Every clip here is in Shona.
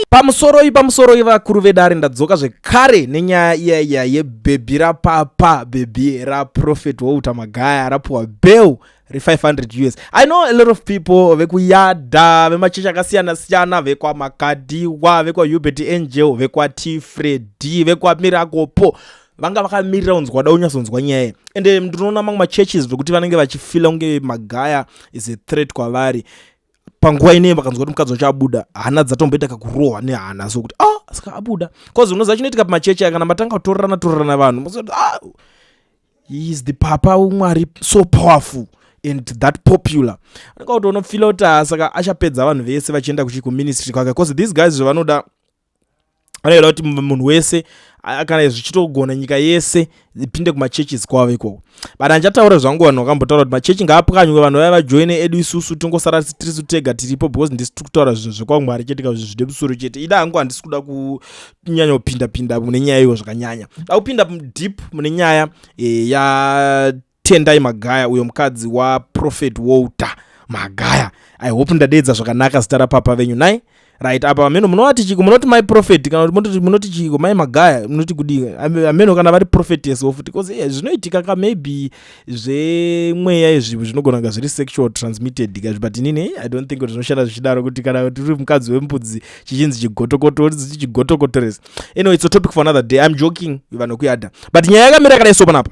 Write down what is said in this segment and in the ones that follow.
pamusoroi pamusoroi vakuru vedare ndadzoka zvekare nenyaya iya iya yebhebhi rapapa bhebhi raprofet walter magaya rapuwa bell re500 us i know a lot of people vekuyadha vemachechi akasiyana siyana vekwamakadiwa vekwahubert angel vekwatifredi vekwamirakopo vanga vakamirira kunzwa wada unyatsonzwa nyaya iyi ende ndinoona mamwe machurches vekuti vanenge vachifila kunge magaya is a threat kwavari panguva inei vakanzwa kuti mukadzi wacho abuda hana dzatomboita kakurohwa nehana so kuti ah saka abuda bcause unoziva chinoitika pamachechi kana matanga kutorerana torerana vanhu mozoti ah is the papa umwari so powerful and that popular anenge kuti unofila kuti ah, saka achapedza vanhu vese vachienda kuchikuministry kwake bcause these guys zvavanoda vanoda kuti munhu wese kana zvichitogona nyika yese ipinde kumachurches kwavo ikoko but andichataura zvangu vanhu vakambotaura kuti machechi ngaapwanywe vanhu vaya vajoine edu isusu tongosara tirisu tega tiripo because ndisi tiri kutaura zvinhu zvekwamwari chete ka zvinhu zvine musoro chete ida hangu handisi kuda kunyanya kupindapinda mune nyaya iyo zvakanyanya da kupinda deep mune nyaya eh, ya Tendai Magaya uyo mukadzi waProphet Walter Magaya. I hope ndadeedza zvakanaka zita rapapa venyu nai. Right apa hameno munovati chiko munoti mai prophet kana kuti munoti chiko mai Magaya munoti kudii hameno kana vari prophetess wo futi because yeah, zvinoitika ka maybe zvemweya izvi zvinogona kunga zviri sexual transmitted ka but inini I don't think kuti zvinoshanda zvichidaro kuti kana tiri mukadzi wembudzi chichinzi chigotokoto chigotokotoresa. Anyway it's a topic for another day. I'm joking vanhu kuyada. But nyaya yakamira yakadai so panapa.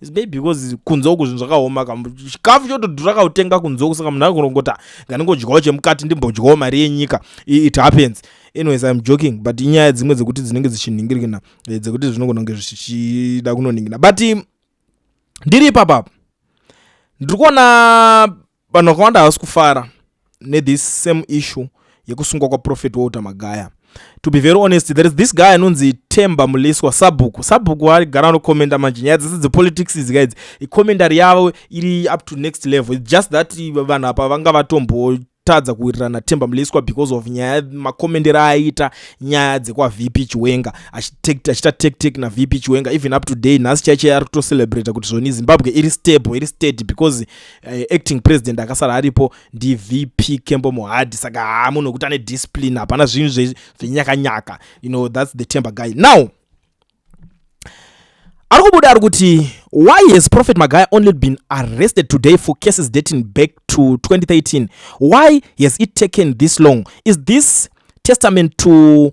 maybe because kunze uku zvinhu zvakaoma ka chikafu chotodhura kautenga kunze uku saka munhu akurongota nganingodyawo chemukati ndimbodyawo mari yenyika it happens anyways im joking but inyaya dzimwe dzekuti dzinenge dzichinhingirikina eh, dzekuti zvinogona kunge zvichida kunoningina but ndiri ipapapa ndiri kuona Vanhu vakawanda havasi kufara nethis same issue yekusungwa kwaprofet walter magaya to be very honest there is this guy anonzi temba muliswa sabhuku sabhuku arigara anokomenda manje nyaya dzese dzepolitics idzi ka idzi ikomendari yavo iri up to next level its just that vanhu apa vanga vatombo kutadza kuwirirana temba muliswa because of nyaya makomendero aaiita nyaya dzekwavp chiwenga achiita tektek navp chiwenga even up to day nhasi chaicho ari kutocelebrata kuti zvoni zimbabwe iri stable iri steady because eh, acting president akasara aripo ndivp kembo muhadhi saka haa munhu wekuti ane discipline hapana zvinhu zvenyakanyaka you know thats the temper guy now ari kubuda ari kuti why has prophet magaya only been arrested today for cases dating back to 2013 why has it taken this long is this testament to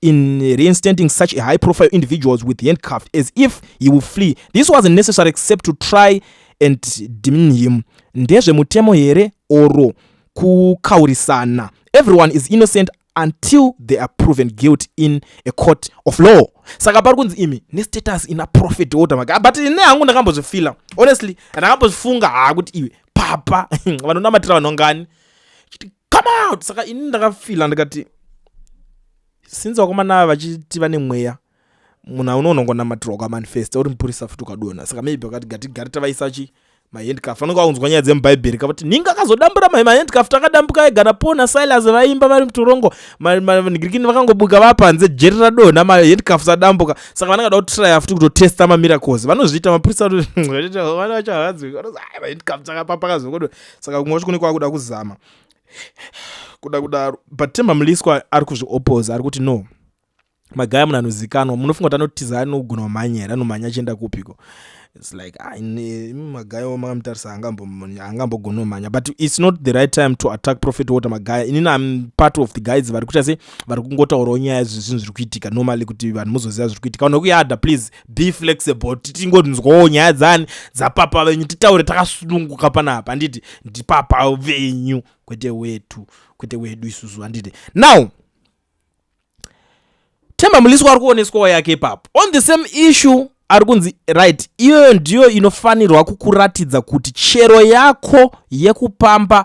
in reinstating such a high profile individuals with handcuffed as if he will flee this wasn't necessary except to try and demean him ndezvemutemo here oro kukaurisana everyone is innocent until they are proven guilt in a court of law saka pari kunzi imi nestatus ina profit order maka but ne hangu ndakambozvifila honestly ndakambozvifunga haa kuti iwe papa vanonamatira vanhu ngani chiti come out saka ini ndakafila ndikati since vakomana ava vachiti vane mweya munhu auno unongonamatirwa kwamanifesta uri mupurisa futi ukadona saka maybe vakati gatigari tavaisa chi mahandcaf vanenge vaunzwa nyaya dzemubhaibheri kavati ninga akazodambura mai mahandcaf takadambuka ega napo nasilas vaimba vari mutorongo vanigirikini vakangobuka vaa panze jeri radonha mahandcaf sadambuka saka vanenge da kutraya futi kutotesta mamiracles vanozviita mapurisa vana vachahaadzwi vanozi ai mahandcaf dzakapapakazokodo saka kumwe kwacho kune kwakuda kuzama kuda kudaro but temba muliswa ari kuzviopoza ari kuti no magaya munhu anozikanwa munofunga kuti anotiza anogona kumhanya here anomhanya achienda kupiko its like ah, magaya wo makamutarisa angambogona kumhanya but its not the right time to attack profit water magaya inini am part of the guides vari kuita se vari kungotaurawo nyaya zvezvinhu zviri kuitika normally kuti vanhu muzoziva zviri kuitika vanhu vekuyada please be flexible titingonzwawo nyaya dzani dzapapa venyu titaure takasununguka panapa handiti ndipapa venyu kwete wetu kwete wedu isusu handiti now temba mulisi wari kuoneswawo yake ipapo on the same issue ari kunzi right iyoyo ndiyo inofanirwa kukuratidza kuti chero yako yekupamba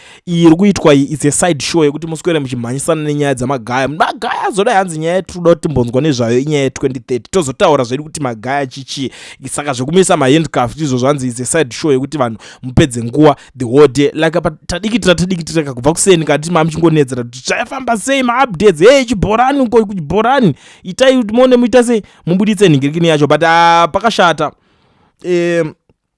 iyi iri kuitwa iyi its a side show yekuti muswere muchimhanyisana nenyaya dzamagaya magaya azoda hanzi nyaya yatiri kuti timbonzwa nezvayo inyaya ye2030 tozotaura zvedu kuti magaya chichii saka zvekumisa mahandcaf izvo zvanzi its a side show yekuti vanhu mupedze nguva the whole day like apa tadikitira tadikitira kakubva kuseni kati mamuchingonedzera kuti zvayafamba sei maupdates hei chibhorani uko kuchibhorani itai kuti mone muita sei mubuditse nhingirikini yacho but uh, pakashata um,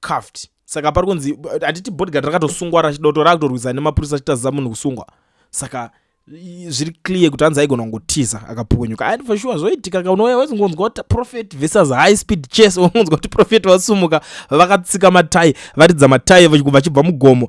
cuffed saka pari kunzi handiti bodyguard rakatosungwa rachidoto rakutorwisa nemapurisa achitaziza munhu kusungwa saka zviri clear kuti hanzi aigona kungotiza akapukunyuka and for sure zvoitika ka unouya wezingonzwa kuti prophet versus high speed chase unonzwa kuti prophet vasumuka vakatsika matai varidza matai vachibva mugomo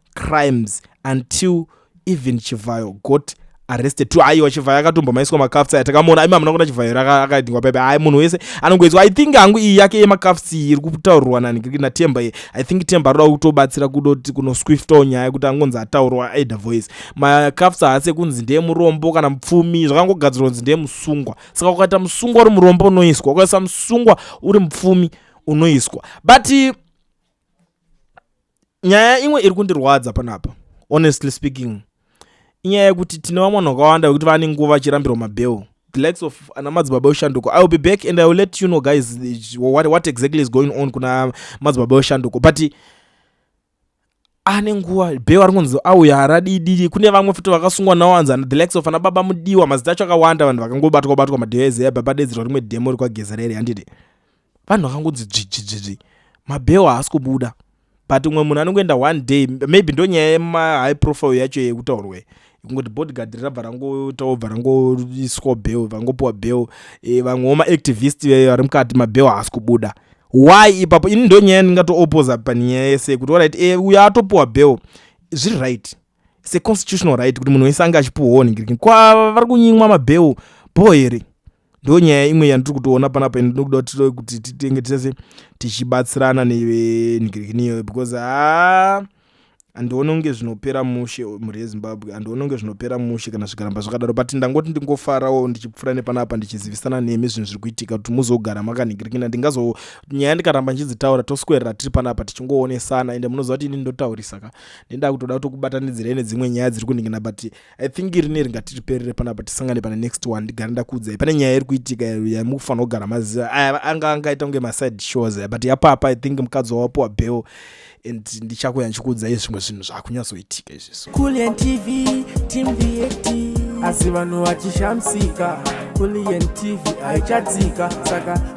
crimes until even chivhayo got arrested to aiwa chivhayo akatombomaiswa makafts aya takamuona aima hamuna kuona chivhayo akaidingwa pepe ai munhu wese anongoiswa i think hangu iyi yake yemakafts iyi iri kutaurirwa natemba iyi i think temba aroda kutobatsira kudoti kunoswiftawo nyaya yekuti angonzi ataurwa aida voice makafts haasi ekunzi ndeye murombo kana mupfumi zvakangogadzirwa kunzi ndeye musungwa saka ukaita musungwa uri murombo unoiswa ukaisa musungwa uri mupfumi unoiswa but nyaya imwe iri kundirwadza panapa honestly speaking inyaya yekuti tine vamwe vanhu vakawanda vekuti vane nguva vachirambirwa mabheo the likes of ana madzibaba weshanduko i will be back and i will let you know guys what, what exactly is going on kuna madzibaba weshanduko but ane nguva bheo ari kunzi auya haradididi kune vamwe futi vakasungwa nawanza the likes of ana baba mudiwa mazita acho akawanda vanhu vakangobatwa batwa madheo ezeya baba dedzerwa rimwe demo rekwagezerere handiti vanhu vakangonzi dzvidzvidzvidzvi mabheo haasi kubuda but umwe munhu anongoenda one day maybe ndonyaya yemahigh profile yacho yekutaurwe kungoti bodyguard rabva rangoitawo bva rangoiswa bheo vangopiwa bheo e, vamwewo maactivist veyo vari mukati mabheo haasi kubuda why ipapo ini ndonyaya ndingatoopposa panyaya yese yekuti orit e, uyo atopiwa bheo zviri right seconstitutional right kuti munhu wese ange achipiwawo nhingiriki kwavari kunyimwa mabheo bho here ndo nyaya imwe yandiri kutoona panapa ende ndinokuda kuti titove kuti titenge tese tichibatsirana nevenhikirikiniyo because haa handione kunge zvinopera mushe mhuri yezimbabwe handione kunge zvinopera mushe kana zvikaramba zvakadaro but ndangoti ndingofarawo ndichipfuura nepanapa ndichizivisana nemi zvinhu zviri kuitika kuti muzogara makanhikirikina ndingazo nyaya ndikaramba ndichidzitaura toswerera tiri panapa tichingoonesana ende munoziva kuti ini ndotaurisaka ndendaa kutoda kutokubatanidzirai nedzimwe nyaya dziri kuningina but i think rine ringatiriperere panapa tisangane pane next one ndigare ndakuudzai pane nyaya iri kuitika yamukufanira kugara maziva aya anga angaita kunge maside shows aya but yapapa i think mukadzi wawapuwa bell and ndichakuya ndichikuudzai zvimwe zvinhu zvakunyatsoitika izvizvo kulian tv team vat asi vanhu vachishamsika kulian tv haichadzika saka